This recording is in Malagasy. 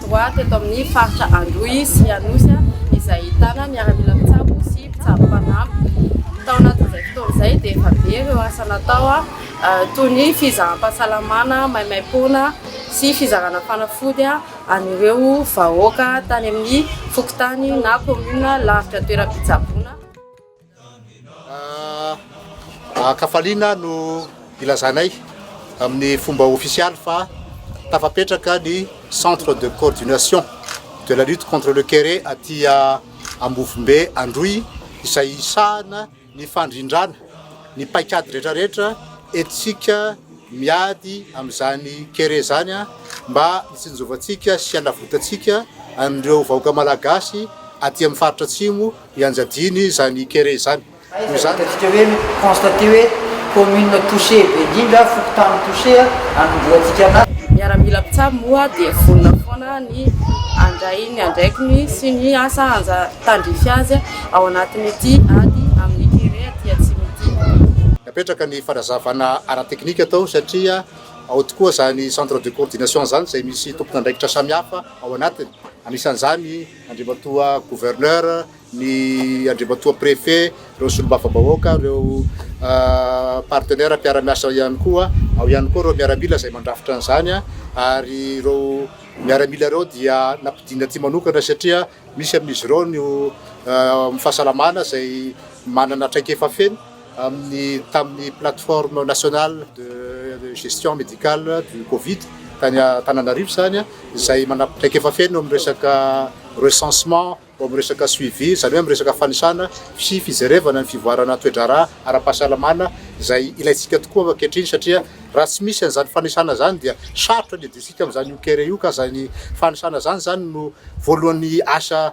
Droit teto amin'ny faritra Androy sy Anosy izay ahitana miaramila mpitsabo sy mpitsabo mpanampy. Tao anatin'izay fotoana izay dia efa be ireo asa natao toy ny fizaham-pahasalamana maimaimpoana sy fizarana fanafody an'ireo vahoaka tany amin'ny fokontany na commune lavitra toeram-pitsaboana. An-kafaliana no ilazanay amin'ny fomba ofisialy fa tafapetraka ny Centre de coordination de la lutte contre le kere aty Ambovombe Androy izay hisahana ny fandrindrana ny paikady rehetrarehetra entintsika miady amin'izany kere izany mba hitsinjovantsika sy hanavotantsika an'ireo vahoaka malagasy aty amin'ny faritra Atsimo Ianjadiany izany kere izany. Noho izany. Hitantsika hoe mi-constater hoe commune touchée be indrindra, fokontany touchée, anondroantsika na. Miaramila mpitsabo moa dia vonona foana ny handray ny andraikiny sy ny asa anja tandrify azy ao anatin'ity ady amin'ny kere aty atsimo ity. Napetraka ny fanazavana ara-teknika tao satria ao tokoa izany centre de coordination izany izay misy tompon'andraikitra samihafa ao anatiny, anisan'izany. Andriamatoa Gouverneur, ny Andriamatoa Préfet, ireo Solombavambahoaka, ireo partenaires mpiara-miasa ihany koa. Ao ihany koa ireo miaramila izay mandrafitra an'izany ary ireo miaramila ireo dia nampidinina aty manokana satria misy amin'izy ireo ny eo amin'ny fahasalamana izay manana traikefa feno. amin'ny tamin'ny plateforme nationale de gestion médicale du covid tany Antananarivo izany izay manam traikefa feno amin'ny resaka recensement ao amin'ny resaka suivi izany hoe amin'ny resaka fanisana sy fijerevana ny fivoarana toe-draharaha ara-pahasalamana izay ilaintsika tokoa ankehitriny satria raha tsy misy an'izany fanisana izany dia sarotra ny hiadiantsika amin'izany io kere io ka izany fanisana izany izany no voalohan'ny asa